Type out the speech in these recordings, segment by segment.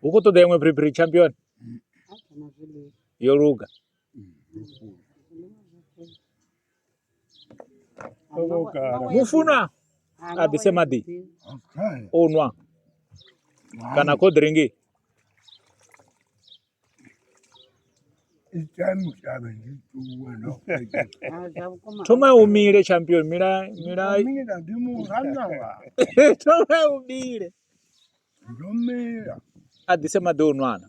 hu khou ṱoḓa iṅwe phiriphiri champion yo luga mufunwa a ḓise maḓi o nwa kana cold drink thoma u mile champion mila mila thoma u mile a ḓise maḓi o nwana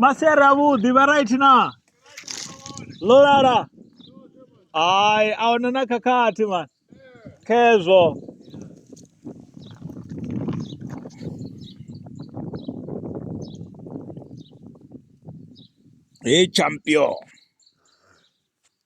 masere avhuḓi vha right na ḽo lala hai a huna na khakhathi man khezwo he champion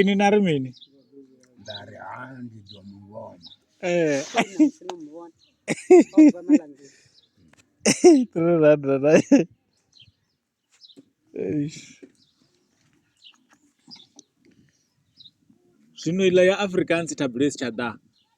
Ini na ri mini? Nda ri ha ndi ḓo mu vhona. Eh. Three hundred. Eish. Zwino iḽa ya Afrikaans tabulesi tsha ḓa.